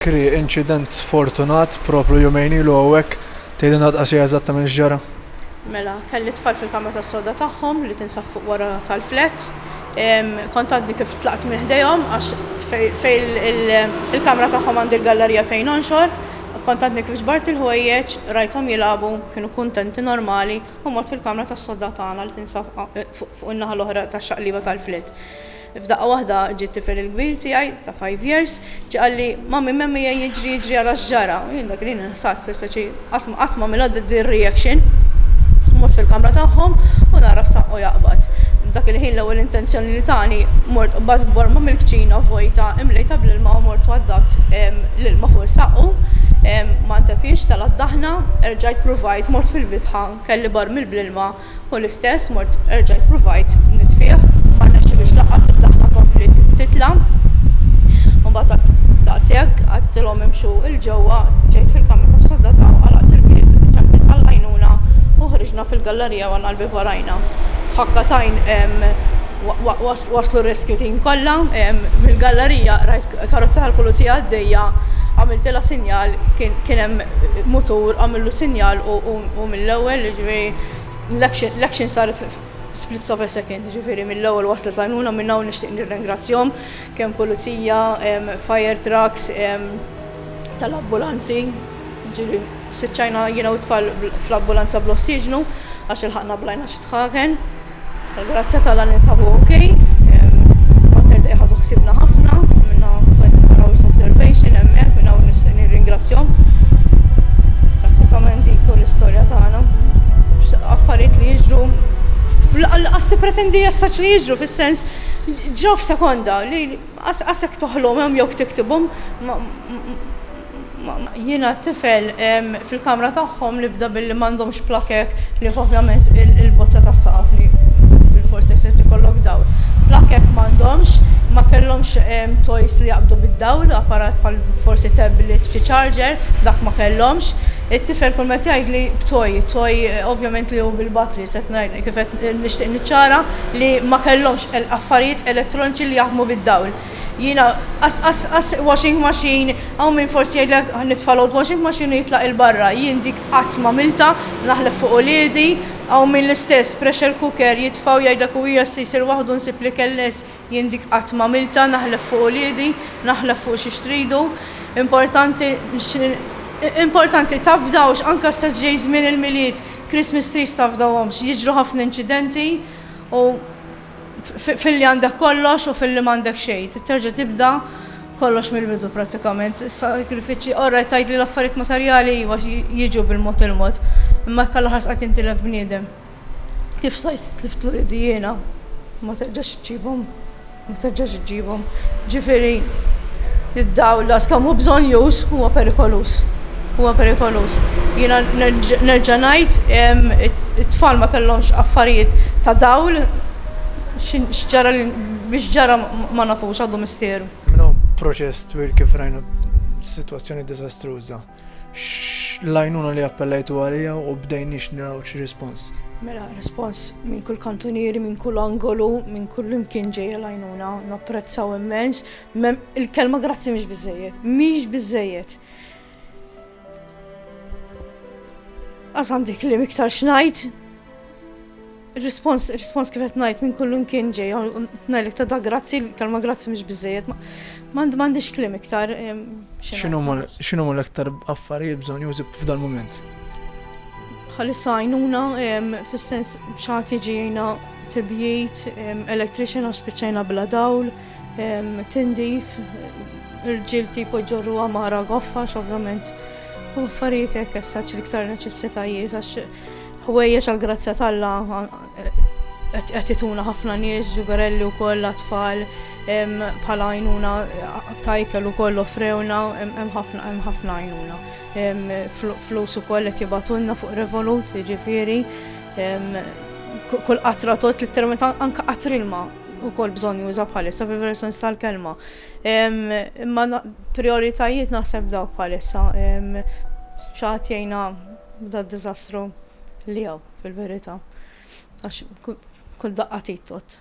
Kri, inċident sfortunat propju jumejn ilu hawnhekk, tgħidilna dqasija eżattament x'ġara? Mela, kelli t-tfal fil-kamra tas-soda tagħhom li tinsab fuq wara tal-flat. Kont għadni kif tlaqt minn ħdejhom għax fejn il-kamra tagħhom għandi l-gallarija fejn nonxor. Kont għadni kif ġbart il-ħwejjeġ, rajthom jilagħbu, kienu kuntenti normali u mort fil-kamra tas-soda tagħna li tinsab fuq in-naħa l-oħra tax-xaqlieba tal-flat. F'daqqa waħda ġie t-tifel il-kbir tiegħi ta' five years, ġie qalli, Mommy, Mommy ejja jiġri jiġri ara x'ġara. U jien dak il-ħin inħsart fi speċi qatt ma qatt m'għamilha din ir-reaction. Mort fil-kamra tagħhom u nara s-saqqu jaqbad. Dak il-ħin l-ewwel intenzjoni li tani mort qbadt borma mill-kċina vojta imlejta bl-ilma u mort waddabt l-ilma fuq is-saqqu. Ma ntefiex, telgħet daħna, erġajt pruvajt mort fil-bitħa, kelli barmil bl-ilma, Hu l-istess, mort erġa' ppruvajt nitfih, ma rnexxilix lanqas id-daħħa kompliet titla'. Mbagħad għad daqshekk għadtilhom imxu il ġewwa, ġejt fil-kamra tas-soldata u qalaqt il-bieb, ċempilt għall-għajnuna u ħriġna fil-gallerija u għandna l-bieb warajna. F'ħakka tajn waslu r-rescue team kollha, mill-gallerija rajt karozza tal-pulizija għaddejja, għamiltilha sinjal, kien hemm mutur, għamillu sinjal u mill-ewwel, jiġifieri, L-action saret f' splits of a second, ġifiri mill-ewwel waslet l-għajnuna minn hawn nixtieq nirringrazzjahom kemm pulizija, fire trucks, tal-ambulanzi, ġieli spiċċajna jiena u t-tfal fl-ambulanza bl-ossiġnu għax ilħaqna blajna xi tħaħen. Tal-grazzja t'Alla ninsabu ok. Mater Dei ħadu ħsiebna ħafna, minna qed naraw observation hemmhekk minn hawn nixtieq nirringrazzjahom. Prattikament dik l-istorja tagħna. Affarijiet li jiġru qas tippretendi jessaċ li jiġru fis-sens ġraw f'sekonda li qasek toħlomhom jew tiktibhom Jiena tifel fil-kamra tagħhom li bda billi m'għandhomx plakek li ovvjament il-bozza tas-saqaf li bil-fors se ikollok dawl. Plakek m'għandhomx, ma kellhomx toys li jaqbdu bid-dawl, apparat bħal forsi tablet b'xi charger, dak ma kellhomx. It-tifel kull meta jgħidli b'toy, toy ovvjament li hu bil-batri, se ngħidlek kif qed nixtieq niċċara li ma kellhomx affarijiet elettroniċi li jaħdmu bid-dawl. Jiena, Qas, qas, qas, washing machine, hawn min forsi jgħidlek nitfa' load washing machine u jitlaq 'il barra, jien dik qatt m'għamiltha, naħlef fuq uliedi, hawn min l-istess, pressure cooker, jitfa' u jgħidlek u hija se jsir waħdu nsib l-ikel lest, jien dik qatt m'għamiltha, naħlef fuq uliedi, naħlef fuq xiex tridu. Importanti, importanti tafdawx, anke stess ġej żmien il-Milied, Christmas trees tafdawhomx, jiġru ħafna inċidenti u, filli għandek kollox u filli m'għandek xejn. Trid terġa' tibda kollox mill-bidu prattikament. Is-sagrifiċċji, orajt tgħid li l-affarijiet materjali iva jiġu bil-mod il-mod, imma jekk għall-aħħar sqajt tintilef bniedem, kif stajt tlift uliedi jiena? Ma terġax iġġibhom, ma terġax iġġibhom. Ġifieri, id-dawl daqs kemm hu bżonjuż huwa perikoluż. Huwa perikoluż. Jiena nerġa' ngħid it-tfal ma kellhomx affarijiet ta' dawl, x'ġara biex ġara ma nafux għadu misteru. Minn hawn proċess twil kif rajna sitwazzjoni diżastruża. X'għajnuna li appellajtu għaliha u bdejniex naraw xi rispons? Mela, rispons minn kull kantunieri, minn kull angolu, minn kull imkien ġejja l-għajnuna, napprezzaw immens. Il-kelma grazzi mhix biżejjed, mhix biżejjed. Għaz għandi klim iktar xnajt. Respons, respons kif qed ngħid minn kullum kien ġej ngħidlek ta' da grazzi, kalma grazzi mhux biżejjed. M'għandix klim iktar. X'inhu l iktar affarijiet bżonn jużib f'dal mument? Bħalissa għajnuna fis-sens xagħti ġejna tibjit, electrician għax spiċċajna bla dawl. tindif, irġiel tipo jġorruha mara goffa x'ovvjament u affarijiet hekk essaċ l-iktar neċessitajiet għax ħwejjeġ għal grazzja talla qed ituna ħafna nies, ġugarelli wkoll għat-tfal bħala għajnuna tajkel ukoll offrewna hemm ħafna hemm ħafna għajnuna. Flus ukoll qed jibatunna fuq Revolut, jiġifieri kull qatra tot li termet anke qatrilma ukoll bżonn juża bħalissa fil-veru sens tal-kelma. Imma prioritajiet naħseb dawk bħalissa. Xaħat jgħina da dizastru li għaw fil-verita. Għax kull daqqa tittot.